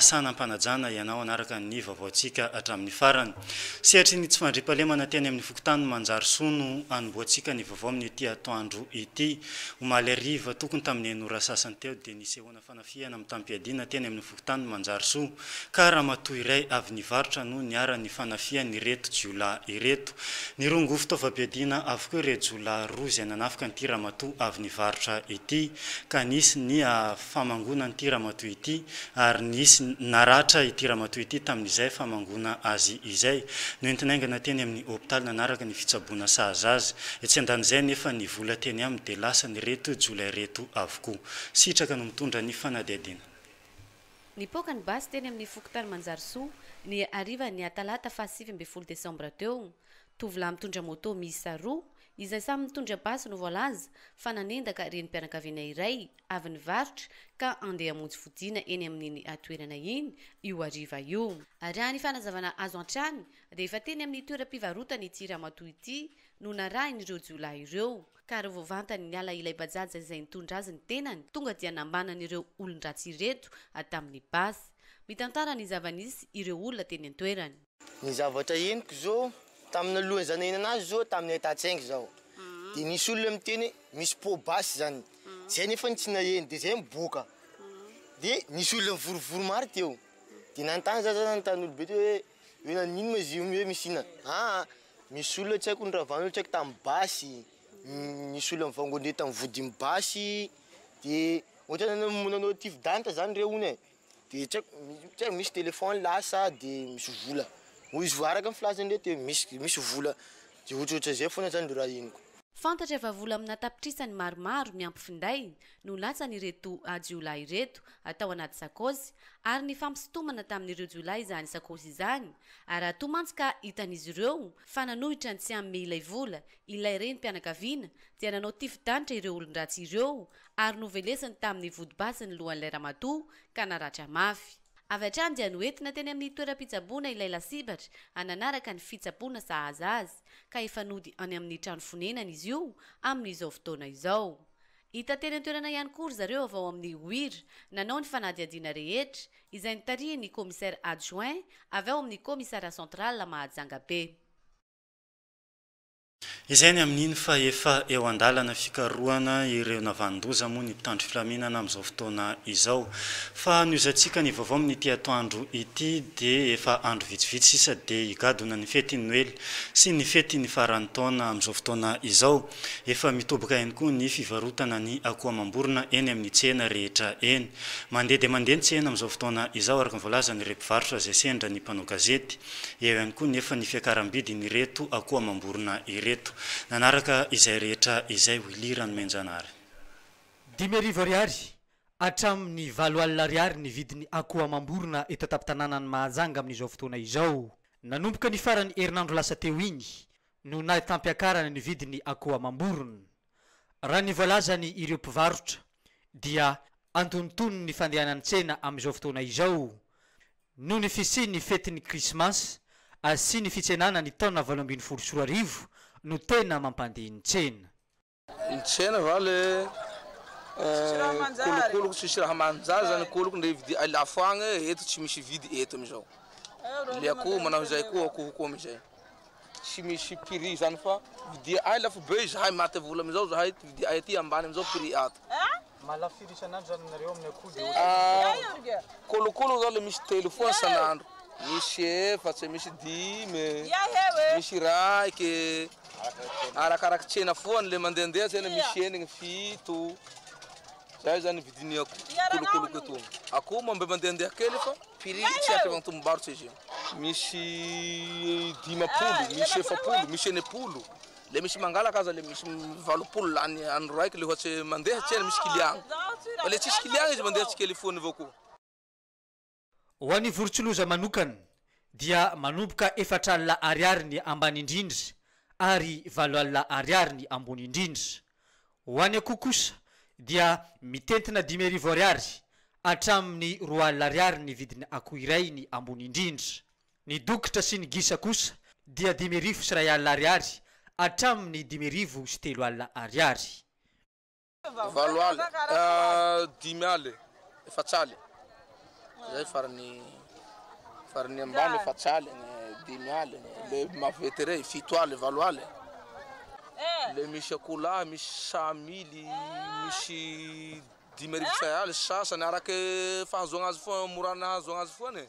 Asa anam-panajana ianao hanaraka ny vaovaontsika hatramin'ny farany. Sehatry ny tsy fandriampahalemana teny amin'ny fokontany Manjarisoa no anombohantsika ny vaovao amin'ity atoandro ity. Omaly hariva tokony tamin'ny enora sasany teo dia nisehoana. fanafihana mitam-piadiana teny amin'ny fokontany Manjarisoa ka ramatoa iray avy nivarotra no niharan'ny fanafihan'ireto jiolahy ireto. Nirongo fitaovam-piadiana avokoa ireo jiolahy roa izay nanafika an'ity ramatoa avy nivarotra ity ka nisy ny famangoana an'ity ramatoa ity ary nisy naratra ity ramatoa ity tamin'izay famangoana azy izay. Noentina haingana teny amin'ny hopitaly nanaraka ny fitsaboana sahaza azy. Etsy andanin'izay anefa ny vola teny aminy dia lasan'ireto jiolahy ireto avokoa. Go. Sitraka no mitondra ny fanadihadiana. Nipoaka ny basy teny amin'ny fokontany Manjarisoa, ny harivan'ny atalata faha sivy ambin'ny folo desambra teo. Tovolahy mitondra moto miisa roa, izay samy mitondra basy no voalaza, fa nanendaka renim-pianakaviana iray avy nivarotra ka andeha hamonjy fodiana eny amin'iny toerana iny, io hariva io. Raha ny fanazavana azo hatrany, dia efa teny amin'ny toeram-pivarotana ity ramatoa ity no narahin'ireo jiolahy ireo. ka revô vantany niala ilay bajaja izay nitondra azy ny tenany tonga dia nambanany ireo olon-dratsy ireto tamin'ny basy. Mitantara ny zava-nisy ireo olona teny an-toerana. Ny zavatra henoko izao, tamin'ny alohan'ny za nahinana azy izao tamin'ny ahitan-tsaingy zaho, dia nisy olona miteny hoe misy pot basy izany, zay nefa no tsy naheno, dia zay miboaka, dia nisy olona nivorivory maro teo, dia nanontany za, za nanontany olobe teo hoe Hoe naninona moa izy io hoe misy inona? Aa misy olona tsy haiko noravan'olona tsy haiko tamin'ny basy, nisy olona nivangon'ireo tamin'ny vodin'ny basy de ohatran'ny namonoana anao tifo d'anitra zany ireo hono e, de tsy haiko tsy haiko misy téléphone lasa de misy vola, hoy izy fa araka ny filazan'ireo teo misy misy vola de ohatrohatran'izay foana zany no raha henoko. Fantatra fa vola amina tapitrisany maromaro miampy finday no latsan'ireto jiolahy ireto tao anaty sakaosy ary nifampisintomana tamin'ireo jiolahy izany sakaosy izany ary raha toa mantsy ka hitan'izy ireo fa nanohitra ny tsy hanome ilay vola ilay renim-pianakaviana dia nanao tifi-danitra ireo olon-dratsy ireo ary novelesiny tamin'ny vodibasy ny lohan'ilay ramatoa ka naratra mafy. Avy hatrany dia noentina teny amin'ny toeram-pitsaboana ilay lasibatra hananaraka ny fitsaboana sahaza azy ka efa nody any amin'ny trano fonenana izy io amin'izao fotoana izao. Hita teny an-toerana ihany koa ry zareo avy ao amin'ny OIR, nanao ny fanadihadiana rehetra, izay notarihin'ny Commissaire Adjoint avy ao amin'ny Commissariat Central Mahajanga be. Izay ny amin'iny fa efa eo an-dalana fikarohana ireo navan-doza moa ny mpitandro filaminana amin'izao fotoana izao. Fa nohizantsika ny vaovao amin'ity atoandro ity dia efa andro vitsivitsy sisa dia higadona ny fetin'ny Noely sy ny fetin'ny faran'ny taona amin'izao fotoana izao. Efa mitoboka ihany koa ny fivarotana ny akoho amam-borona eny amin'ny tsena rehetra eny. Mandeha dia mandeha ny tsena amin'izao fotoana izao araka ny voalazan'ireo mpivarotra izay sendra ny mpanao gazety. Eo ihany koa nefa ny fiakaram-bidin'ireto akoho amam-borona ireto. Nanaraka izay rehetra izay Willy Ranomaijanahary. Dimy arivo ariary hatramin'ny valo alina ariary ny vidin'ny akoho amam-borona eto an-tampon-tanànan'i Mahajanga amin'izao fotoana izao. Nanomboka ny faran'ny herinandro lasa teo iny no nahitam-piakarana ny vidin'ny akoho amam-borona. Raha ny voalazany ireo mpivarotra dia antonontonony ny fandehanan'ny tsena amin'izao fotoana izao noho ny fisian'ny fetin'ny krismasy sy ny fitsenana ny taona valo ambin'ny folo sy roa arivo no tena mampandeha ny tsena. Nitsena va le kolokoloko tsisy raha manjary zany koloko ndre vidia ay lafo agny e eto tsy misy vidy eto amizao le akoho manao izay koa akoho koa amizay tsy misy prix zany fa vidia ay lafo be izahay maty vola amizao zahay ty vidia ay ty ambany amizao prix ato. Malafira isan'andro zany nareo amin'ny akoho de otrany akoho. Kolokolo zao le misy telo foana isan'andro, misy efatra, misy dimy, misy iray e, arakaraky tsena foana le mandehandeha tsena misy enigny, fito, zay zany vidin'ny akoho kolokolo eto. Akoho mba mandehandeha kely fa prix tsy ampy amin'ny tombobarotra izy io. Misy dimampolo, misy efapolo, misy enimpolo. Le misy mangalaka aza le misy valopolo lany andro raiky le ohatse mandeha tsena misy client fa le tsisy client izy mandeha tsikely foany avao koa. Ho an'ny vorontsiloza manokana dia manomboka efatra alina ariary ny ambany indrindra ary valo alina ariary ny ambony indrindra. Ho an'ny akoho kosa dia mitentina dimy arivo ariary hatramin'ny roa alina ariary ny vidin'ny akoho iray ny ambony indrindra. Ny dokotra sy ny gisa kosa dia dimy arivo sy iray alina ariary hatramin'ny dimy arivo sy telo alina ariary. Valo aly, dimy aly, efatsaly, izay farany farany ambany efatsaly, ny dimy aly, le maventy rey fito aly, valo aly, le misy akoho lahy misy samily misy dimy arivo sy iray aly sasany arake fahazoana azy foana mora ahazoana azy foana e!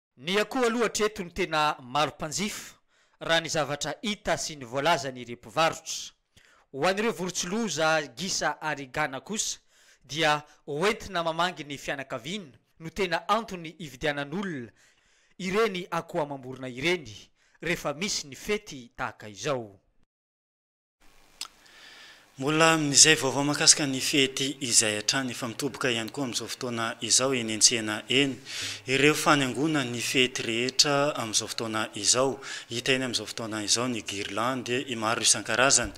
Ny akoho aloha hatreto no tena maro mpanjifa raha ny zavatra hita sy ny voalazan'ireo mpivarotra. Ho an'ireo vorontsiloza, gisa ary gana kosa dia ho entina mamangy ny fianakaviana no tena antony ividianan'olona ireny akoho amam-borona ireny rehefa misy ny fety tahaka izao. Mbola mizay vaovao mahakasika ny fety izay hatrany efa mitoboka ihany koa amin'izao fotoana izao eny an-tsena eny ireo fanaingoana ny fety rehetra amin'izao fotoana izao. Hita eny amin'izao fotoana izao ny guirlandes maro isan-karazany.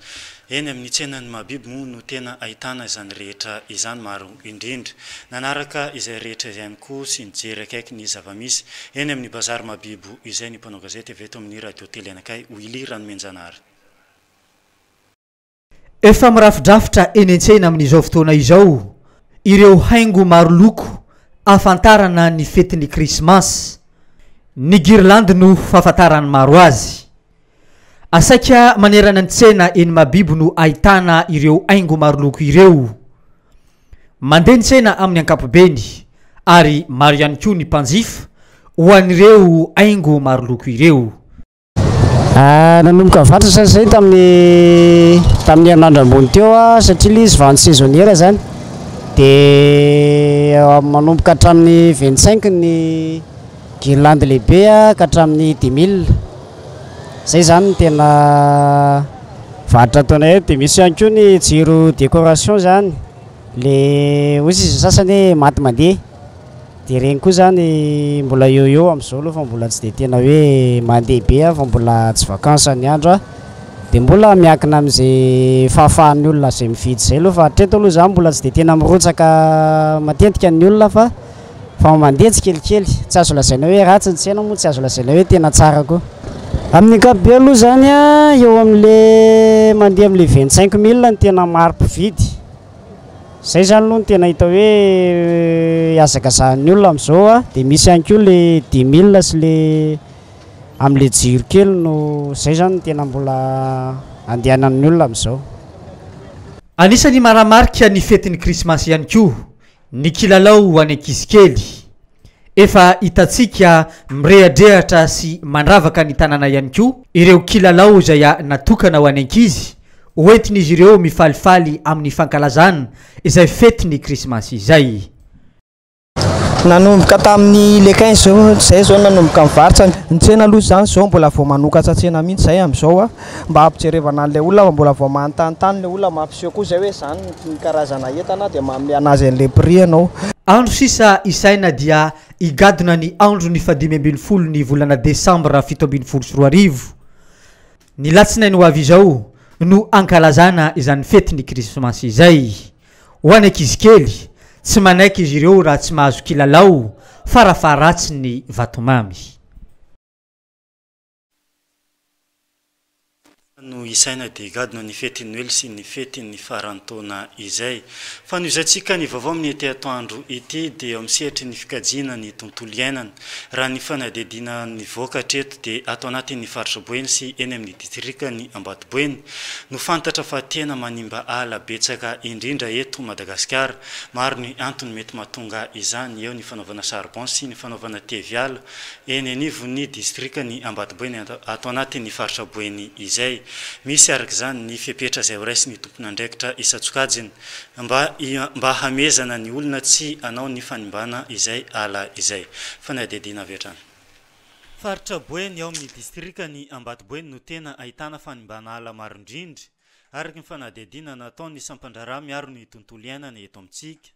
Eny amin'ny tsenan'ny mahabibo moa no tena ahitana izany rehetra izany maro indrindra. Nanaraka izay rehetra izay ihany koa sy nijery akaiky ny zava-misy eny amin'ny bazary mahabibo izay ny mpanao gazety avy eto amin'ny Radio Tele anakay Willy Ranomenjanahary. Efa mirafidrafitra eny an-tsena amin'izao fotoana izao ireo haingo maro loko ahafantarana ny fetin'ny Krismasy, ny girlandy no fahafantaran'ny maro azy. Asaika manerana ny tsena eny Mahabibo no ahitana ireo haingo maro loko ireo. Mandeha ny tsena amin'ny ankapobeny ary maro ihany koa ny mpanjifa ho an'ireo haingo maro loko ireo. Ah, nanomboka vantsa sa zay tamin'ny tamin'ny herinandro ambony teo ah, satria ilay izy vente saisonnière zany dia ah, manomboka hatramin'ny 25 ny guirlande lehibe ah, ka hatramin'ny 2000 zay zany ny tena varotra ataonay eto dia misy ihany koa ny jiro décoration zany le hozy izy sasany hoe maty mandeha Dia ireny koa izany mbola eo eo amin'izao aloha fa mbola tsy dia tena hoe mandeha be aho fa mbola tsy vacances ny andro aho dia mbola miankina amin'izay fahafahan'ny olona izay mividy izay aloha fa hatreto aloha izaho mbola tsy dia tena mirotsaka matetika ny olona fa fa mandeha tsikelikely. Tsy azo lazaina hoe ratsy ny tsena moa tsy azo lazaina hoe tena tsara koa. Amin'ny ankapobeny aloha izany eo amin'ilay mandeha amin'ilay vingt cinq mille no tena maro mpividy Zay zany aloha no tena hita hoe hazakazahan'ny olona amin'izao a, dia misy ihany koa le dix mille sy le amin'ilay jiro kely no zay zany no tena mbola andehanan'ny olona amin'izao. Anisan'ny maramarika ny fetin'ny krismasy ihany koa Ny kilalao ho an'ny ankizy kely. Efa hitantsika mirehadrehatra sy mandravaka ny tanàna ihany koa ireo kilalao izay natokana ho an'ny ankizy, hoentin'izy ireo mifalifaly amin'ny fankalazana izay fetin'ny Krismasy izay. Nanomboka tamin'ny le 15 zay izao nanomboka mivarotra ny tsena aloha izany izao mbola vao manokatra tsena mihitsy izay amin'izao. Mba hampijerevana an'ilay olona fa mbola vao manontanontany ilay olona, mampiseho koa izay hoe izany ny karazana entana dia manome an'azy an'ilay prix ianao. Andro sisa isaina dia higadona ny andron'ny fahadimy ambin'ny folo ny volana desambra fito ambin'ny folo sy roa arivo. Ny latsinainy ho avy izao no hankalazana izany fetin'ny krismasy izay. Ho an'ny ankizy kely, tsy manaiky izy ireo raha tsy mahazo kilalao, farafaharatsiny vatomamy. Efa no isaina dia gadona ny fetin'ny Noely sy ny fetin'ny faran'ny taona izay. Fanohizantsika ny vaovao amin'ny ety atoandro ity dia eo amin'ny sehatry ny fikajiana ny tontolo iainana. Raha ny fanadihadiana nivoaka hatreto dia ato anatin'ny faritra Boeny sy eny amin'ny distrikan'i Ambatoboeny no fantatra fa tena manimba ala betsaka indrindra eto Madagasikara. Maro ny antony mety mahatonga izany, eo ny fanaovana charbon sy ny fanaovana teviala, eny anivon'ny distrikan'i Ambatoboeny ato anatin'ny faritra Boeny izay. Misy araka izany ny fepetra izay horaisin'ny tompon'andraikitra isan-tsokajiny mba mba hamehezana ny olona tsy hanao ny fanimbana izay ala izay. Fanadihadiana avy hatrany. Faritra Boeny ao amin'ny distrikan'i Ambatoboeny no tena ahitana fanimbana ala maro indrindra, araka ny fanadihadiana nataon'ny sampandraharaha miaro ny tontolo iainana eto amintsika.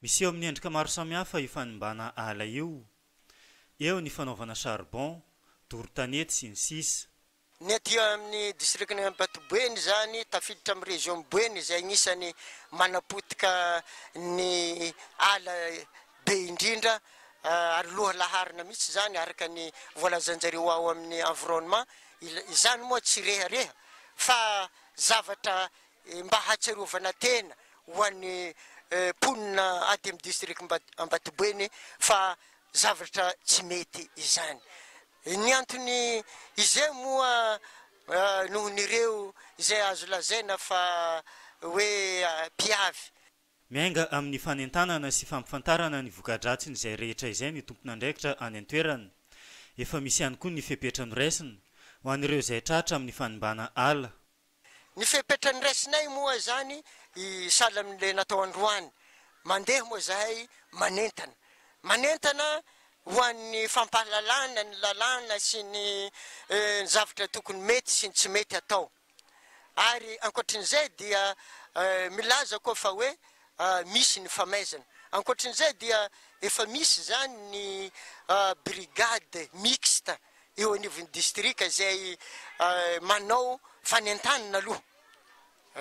Miseho amin'ny endrika maro samihafa io fanimbana ala io, eo ny fanaovana charbon, doro tanety, sy ny sisa. Ny aty amin'ny distrikan'i Ampatuboeny izany, tafiditra amin'ny région Boeny izay agnisany manapotika ny ala be indrindra ary loha laharana mihitsy izany araka ny voalazanjareo ao amin'ny environnement, izany moa tsy rehareha fa zavatra Mba hahatsiarovana tena ho an'ny mponina aty amin'ny district Ambatoboeny fa zavatra tsy mety izany. Ny antony izay moa noho ny ireo izay azo lazaina fa hoe mpiavy. Miainga amin'ny fanentanana sy fampifantarana ny voka-dratsin'izay rehetra izay ny tompon'andraikitra any an-toerana. Efa misy ihany koa ny fepetra noraisina, ho an'ireo izay tratra amin'ny fanimbàna ala. Ny fepetra niraisinay moa izany sahala amin'ilay natao androany, mandeha moa izahay manentana. Manentana ho an'ny fampahalalana ny lalàna sy ny zavatra tokony mety sy ny tsy mety atao. Ary ankoatrin'izay dia milaza koa fa hoe misy ny famaizana. Ankoatrin'izay dia efa misy izany ny brigade mixte. eo anivon'ny distrika izay manao fanentanana aloha.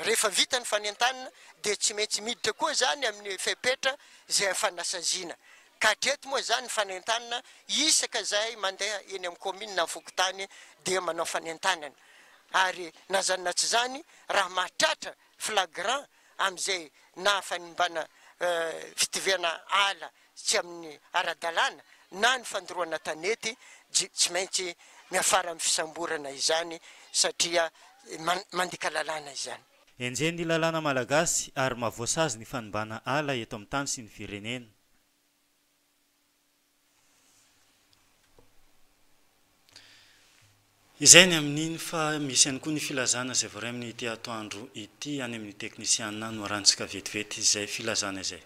Rehefa vita ny fanentanana dia tsy maintsy miditra koa izany amin'ny fepetra izay hafanasaziana. Ka hatreto moa izany ny fanentanana isaka izay mandeha eny amin'ny kaominina na fokontany dia manao fanentanana. Ary na izany na tsy izany raha mahatratra flagrant amin'izay nahafanimbana fitivihana ala tsy amin'ny ara-dalàna na ny fandoroana tanety dia tsy maintsy miafara amin'ny fisamborana izany satria mandika lalàna izany. Enjehin'ny lalàna malagasy ary maha voasazy ny fanimbàna ala eto amin'ny tany sy ny firenena. Izay ny amin'iny fa misy ihany koa ny filazana izay voaray amin'ity atoandro ity any amin'ny teknisiana, noharantsika vetivety izay filazana izay.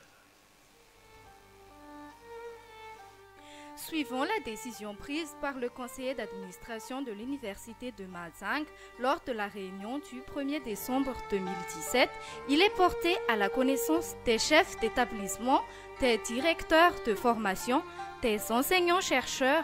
Suivons la décision prise par le conseiller d'administration de l'université de Mahajanga lors de la réunion du premier décembre 2017, il est porté à la connaissance des chefs d'établissements, des directeurs de formation, des enseignants-chercheurs,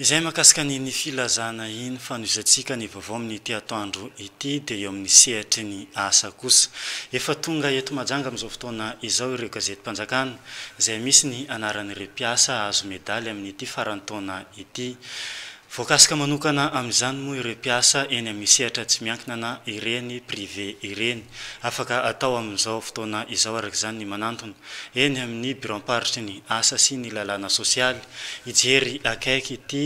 Izay mahakasika an' iny filazana iny fanohizantsika ny vaovao amin' ity atoandro ity dia eo amin' ny sehatry ny asa kosa. Efa tonga eto Mahajanga amin' izao fotoana izao ireo gazetim-panjakana izay misy ny anaran' ireo mpiasa hahazo medaly amin' ity faran'ny taona ity. Voakasika manokana amin' izany moa ireo mpiasa eny amin' ny sehatra tsy miankinana ireny, privé, ireny. Afaka atao amin' izao fotoana izao araka izany ny manantona. eny amin'ny biraom-paritry ny asa sy ny lalàna sosialy, hijery akaiky ity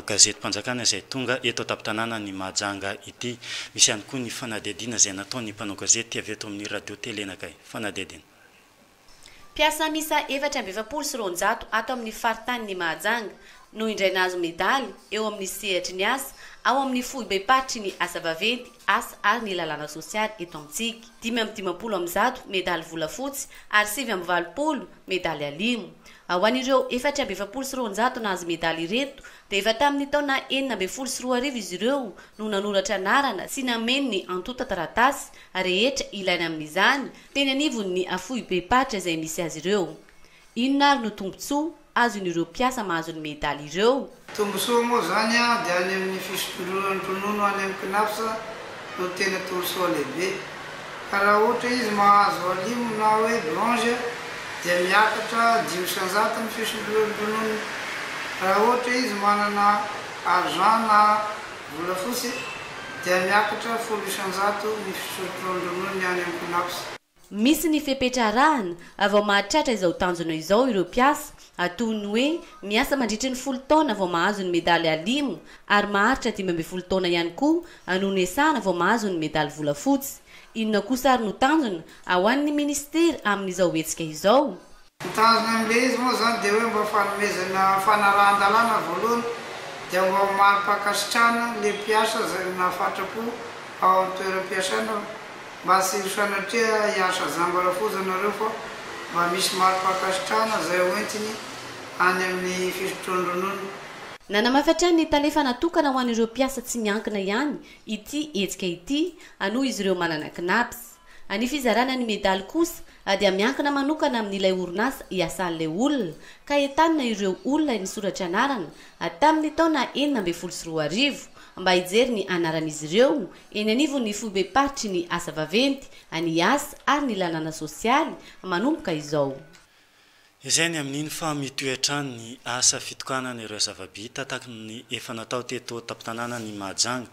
gazetim-panjakana izay tonga eto an-tampon-tanànan'i Mahajanga ity. Misy ihany koa ny fanadihadiana izay nataon'ny mpanao gazety avy eto amin'ny Radio Télé Nagay. Fanadihadiana. Mpiasa miisa efatra amby efapolo sy roanjato ato amin'ny faritanin'i Mahajanga, no indray nahazo medaly eo amin'ny sehatry ny asa ao amin'ny foibem-paritry ny asa vaventy, asa ary ny lalàna sosialy eto amintsika. Dimy amby dimampolo amby zato medaly volafotsy ary sivy amby valopolo medaly alimo. Ao an'ireo efatra amby efapolo sy roanjato nahazo medaly ireto dia efa tamin'ny taona enina ambin'ny folo sy roa arivo izy ireo no nanoratra anarana sy nameno ny antontan-taratasy rehetra ilaina amin'izany teny anivon'ny foibem-paritra izay misy azy ireo. Inona ary no tombontsoa azon'ireo mpiasa mahazo ny medaly ireo? Tombontsoa moa izany dia any amin'ny fisompolonan'ny ronono any amin'ny Cnaps no tena tombontsoa lehibe. Ka raha ohatra izy mahazo alimo na hoe bronze dia miakatra dimy isan-jato ny fisompolon'ny rononony. Raha ohatra izy manana argent na volafotsy dia miakatra folo isan-jato ny fisompolon'ny rononony any amin'ny Cnaps. Misy ny fepetra arahana vao mahatratra izao tanjona izao ireo mpiasa, toy ny hoe miasa mandritry ny folo taona vao mahazo ny medaly alimo ary maharitra dimy ambin'ny folo taona ihany koa no niasana vao mahazo ny medaly volafotsy. Inona kosa ary no tanjona ho an'ny minisitera amin'izao hetsika izao? Ny tanjony amin'ilay izy moa izany dia hoe mba fanomezana fanarahan-dalàna voalohany dia mba ho mari-pankasitrahana ilay mpiasa izay nahafatra-po ao amin'ny toeram-piasana hoe mba tsy ry sanatria hiasa jamba rafoja nareo fa mba misy mari-pankasitrahana izay ho entiny any amin'ny fisotroan-dronono. Nanamafy hatrany ny tale fa natokana ho an'ireo mpiasa tsy miankina ihany ity hetsika ity, aloha izy ireo manana CNAPS. Ny fizarana ny medaly kosa dia miankina manokana amin'ilay orinasa iasan'ilay olona ka entanina ireo olona nisoratra anarana tamin'ny taona enina ambin'ny folo sy roa arivo mba hijery ny anaran'izy ireo eny anivon'ny foibem-paritry ny asa vaventy, ny asa ary ny lalàna sosialy manomboka izao. Izay ny amin'iny fa mitohy hatrany ny asa fitokanana ireo zava-bita tahaka ny efa natao teto an-tampon-tanànan'i Mahajanga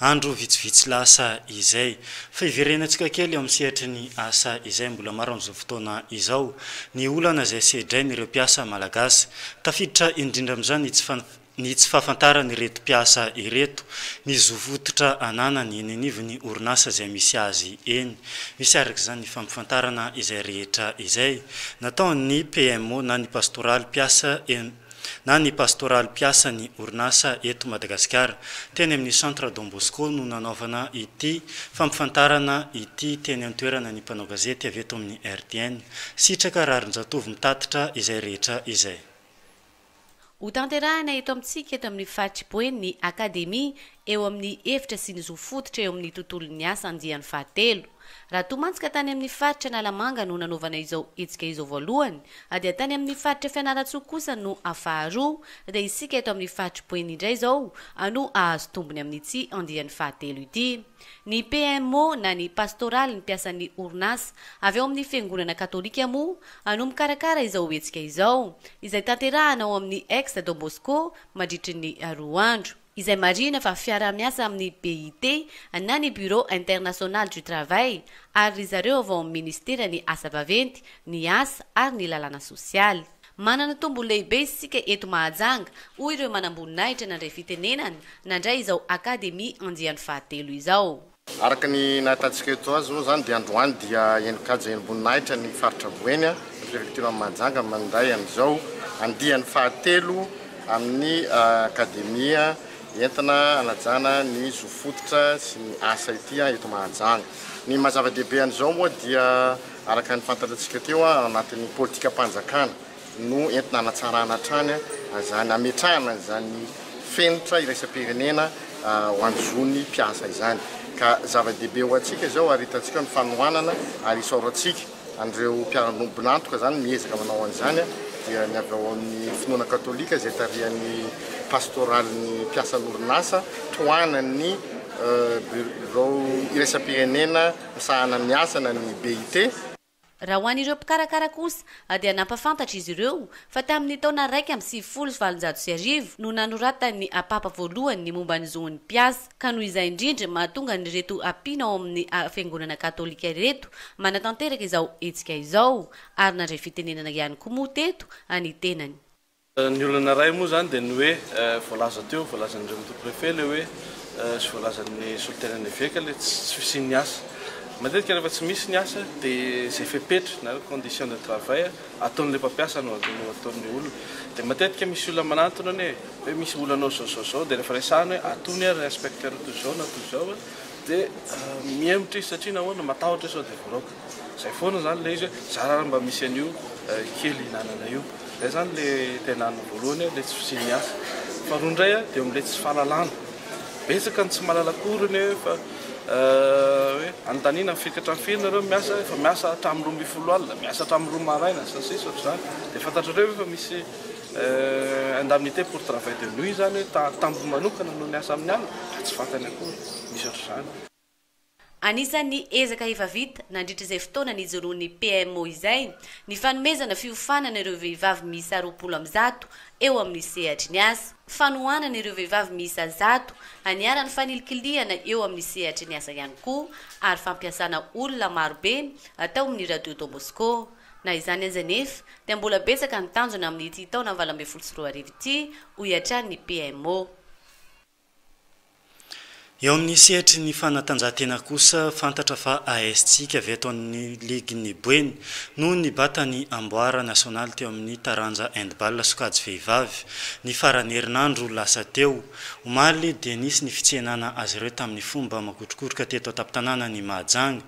andro vitsivitsy lasa izay. Fa hiverenantsika kely eo amin'ny sehatry ny asa izay mbola maro amin'izao fotoana izao ny olana izay sedrain'ireo mpiasa malagasy. Tafiditra indrindra amin'izany ny tsy ny tsy fahafantaran'ireto mpiasa ireto ny zo fototra ananany eny anivon'ny orinasa izay misy azy eny. Misy araka izany ny fampafantarana izay rehetra izay nataon'ny PMO na ny pastoraly mpiasa na ny pastoraly mpiasa ny orinasa eto Madagasikara. Teny amin'ny Centre Don Bosco no nanaovana ity fampafantarana ity teny an-toerana ny mpanao gazety avy eto amin'ny RTN. Sitraka Raharinjatovo mitatitra izay rehetra izay. Hotanterahina eto amintsika eto amin'ny faritr'i Boeny ny Akademia eo amin'ny hevitra sy ny zo fototra eo amin'ny tontolon'ny asa andiany fahatelo. Raha tomantsika tany amin'ny faritra Analamanga no nanaovana izao hetsika izao voalohany dia tany amin'ny faritra Fianarantsoa kosa no faharoa dia isika eto amin'ny faritr'i Boeny indray izao no hahazo tombony amin'ity andiany fahatelo ity. Ny PMO na ny pastoraly ny mpiasan'ny orinasa avy ao amin'ny Fiangonana Katolika moa no mikarakara izao hetsika izao, izay tanterahana ao amin'ny Ex Don Bosco mandritry ny roa andro. Izay marihina fa fiaraha-miasa amin'ny BIT na ny Bureau International du Travail ary ry zareo avy ao amin'ny Ministeran'ny Asa Vaventy, ny Asa ary ny Lalàna Sosialy. Manana tombony lehibe isika eto Mahajanga, hoy ireo manamboninahitra nandray fitenenana, nandray izao Akademia andiany fahatelo izao. Araka ny nahitantsika eto azy moa izany dia androany dia enin-kaja enim-boninahitra ny faritra Boeny, ny Prefecture an'i Mahajanga mandray an'izao andiany fahatelo amin'ny Akademia entina hanajana ny zo fototra sy ny asa ity eto Mahajanga. Ny maha-zava-dehibe an'izao moa dia Araka ny fantatratsika teo, ao anatin'ny politikam-panjakana no entina hanatsarana hatrany an'izany, hametrahana an'izany fenitra iraisam-pirenena ho an'ny zon'ny mpiasa izany. Ka zava-dehibe ho antsika izao ary hitantsika ny fanohanana ary isaorantsika an'ireo mpiara-bonantoka izany miezaka manao an'izany dia ny avy ao amin'ny finoana katolika izay tarihan'ny pastoralin'ny mpiasan'orinasa tohanan'ny Birao iraisam-pirenena misahana ny asana ny BIT. Raha ho an'ireo mpikarakara kosa dia nampafantatra izy ireo fa tamin'ny taona iraika amby sivifolo sy valonjato sy arivo no nanoratan'ny Apapa voalohany ny momba ny zon'ny mpiasa ka noho izay indrindra mahatonga an'ireto mpino ao amin'ny fiangonana katolika ireto manatanteraka izao hetsika izao ary nandray fitenenana ihany koa moa teto ny tenany. Ny olana iray moa izany dia ny hoe voalaza teo, voalazan'ireo Mito Préfet ilay hoe sy voalazan'ny solontenan'ny Eveka ilay tsy fisian'ny asa. Matetika rehefa tsy misy ny asa dia izay fepetra na hoe condition de travail ataon'ilay mpampiasa no ataon'ilay olona. Dia matetika misy olona manantona anie hoe misy olana ao izao izao izao dia rehefa resahina hoe atony ary inspecteur toy izao na toy izao dia mihemotra izy satria nahoana matahotra hoe sao dia voaraoka. Zay foana zany le izy hoe zara raha mba misy an'io kely hinanana io. Zay zany le tena an'ny voalohany hoe le tsy fisian'ny asa. Faharoa indray a de am'le tsy fahalalana. Betsaka ny tsy mahalala akory ny hoe fa hoe anontaniana ny firy ka hatramin'ny firy nareo no miasa, efa miasa hatramin'ny roa ambin'ny folo alina, miasa hatramin'ny roa maraina sy ny sisa ohatr'izany. De fantatrareo ve fa misy indemnité pour travail de nuit zany hoe ta- tambo manokana noho ny asa amin'ny alina? Mba tsy fantany akory. Misy ohatr'izany. Anisan'ny ezaka efa vita nandritra izay fotoana nijoroan'ny PMO izay ny fanomezana fiofanana ireo vehivavy miisa roapolo amby zato eo amin'ny sehatry ny asa, fanohanana ireo vehivavy miisa zato haniaran'ny fanilikilihana eo amin'ny sehatry ny asa ihany koa ary fampiasana olona marobe atao amin'ny Radio Don Bosco. Na izany aza anefa dia mbola betsaka ny tanjona amin'ity taona valo ambin'ny folo sy roa arivo ity, hoy hatrany ny PMO. Eo amin'ny sehatry ny fanatanjahantena kosa, fantatra fa AS Tsika avy eto amin'ny ligin'i Boeny no nibata ny amboara nasionaly teo amin'ny taranja handball sokajy vehivavy, ny faran'ny herinandro lasa teo. Omaly dia nisy ny fitsehenana azy ireo tamin'ny fomba makotrokoroka teto an-tampon-tanànan'i Mahajanga.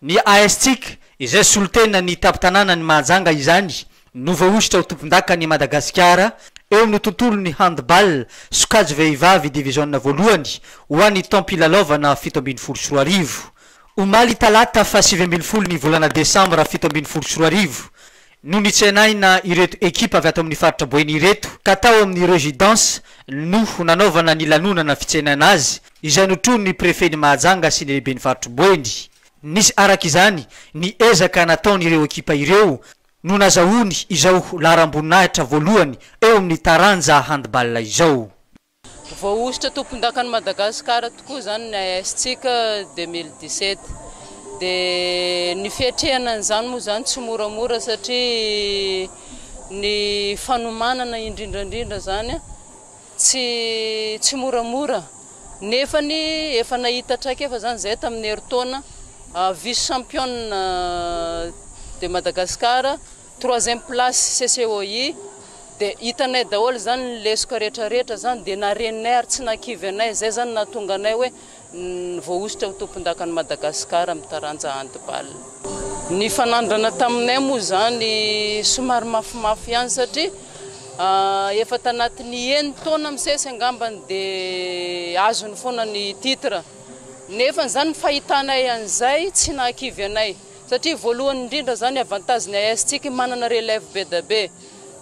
Ny ASTIC, izay solontena ny tampon-tanànan'i Mahajanga izany no voahosotra ho tompondakan'i Madagasikara eo amin'ny tontolon'ny handball sokajy vehivavy diviziona voalohany ho an'ny taom-pilalaovana fito ambin'ny folo sy roa arivo. Omaly talata faha sivy ambin'ny folo ny volana desambra fito ambin'ny folo sy roa arivo no nitsenaina ireto ekipa avy ato amin'ny faritra Boeny ireto ka tao amin'ny Residence no nanaovana ny lanonana fitsenaina azy izay notronin'ny Prefen'i Mahajanga sy ny Lehiben'ny Faritry Boeny. Nisy araka izany ny ezaka nataon'ireo ekipa ireo no nazahoany izao laharam-boninahitra voalohany eo amin'ny taranja handball izao. Voahosotra tompondakan'i Madagasikara tokoa izany ny AS-tsika deux mille dix-sept. Dia ny fiatrehana an'izany moa izany tsy moramora satria ny fanomanana indrindra indrindra izany tsy tsy moramora. Nefany efa nahita traikefa izany izahay tamin'ny herintaona vice champion de Madagasikara. Troisième place CCOI dia hitanay daholo zany ny lesoka rehetra rehetra zany dia narenay ary tsy nakivy anay zay zany nahatonga anay hoe voahosotra ho tompondakan'i Madagascar amin'ny taranja handball. Ny fanandrana taminay moa zany somary mafimafy ihany satria efa tanatin'ny eny taona misesy angambany dia azony foana ny titre nefa zany ny fahitanay an'izay tsy nahakivy anay. Satria voalohany indrindra zany avantage ny AS tsika manana relève be da be.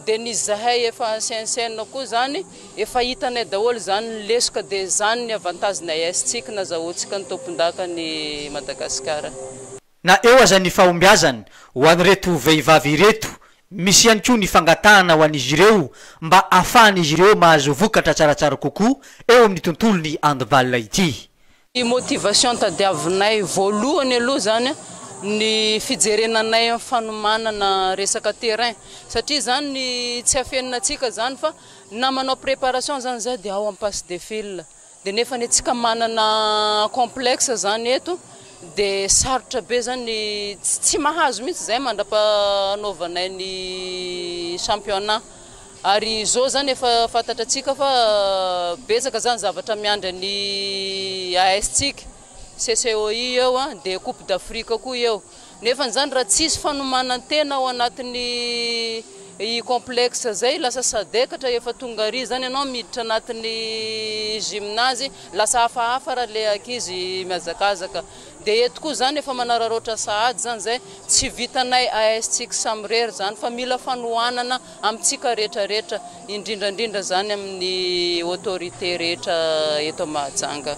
De ny zahay efa ancien ancienne koa zany efa hitanay daholo zany ny lesoka de zany ny avantage ny AS tsika nazahoantsika ny tompondaka ny Madagascar. Na eo aza ny fahombiazany ho an'ireto vehivavy ireto, misy ihany koa ny fangatahana ho an'izy ireo mba afahan'izy ireo mahazo vokatra tsaratsara kokoa eo amin'ny tontolon'ny handball ity. Ny motivation tadiavinay voalohany aloha zany ny fijerena anay am fanomanana resaka terrain satria zany tsy afenina antsika zany fa na manao préparation zany zay de ao am passe de fil de nefa anie tsika manana complexe zany eto de sarotra be zany tsy mahazo mihitsy zay mandrapa anaovanay ny championnat. Ary izao izany efa fantatra antsika fa betsaka izany zavatra miandry an'i AS-tsika, CCOI eo an, dia coupe d'Afrique koa eo. Nefa izany raha tsisy fanomanan-tena ao anatin'ny i complexe izay lasa sadekatra efa tonga ary izany ianao miditra anatin'ny gymnase lasa hafahafa raha le ankizy mihazakazaka. Dia eto koa izany efa manararaotra sahady izany izay tsy vitanay AS-tsika samirery izany fa mila fanohanana Amintsika rehetra rehetra, indrindra indrindra izany amin'ny autorités rehetra eto Mahajanga.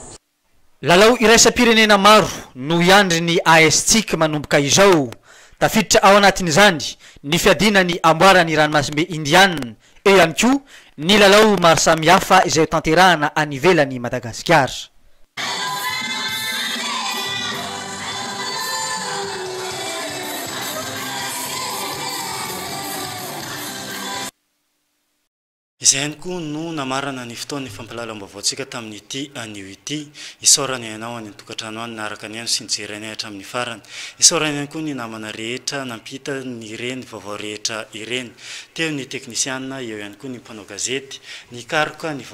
Lalao iraisam-pirenena maro no hiandry ny AS-tsika manomboka izao. Tafiditra ao anatin'izany ny fiadiana ny amboaran'ny ranomasimbe Indiana, eo ihany koa ny lalao maro samihafa izay hotanterahana any ivelan'i Madagasikara. Izay ihany koa no namarana ny fotoan'ny fampilalaom-baovaontsika tamin'ity anio ity. Isaorana ianao any an-tokantrano any naharaka anay no sy nijery anay hatramin'ny farany. Isaorana ihany koa ny namana rehetra nampita ireny vaovao rehetra ireny. Teo ny teknisiana, eo ihany koa ny mpanao gazety nikaroka ny vaovao.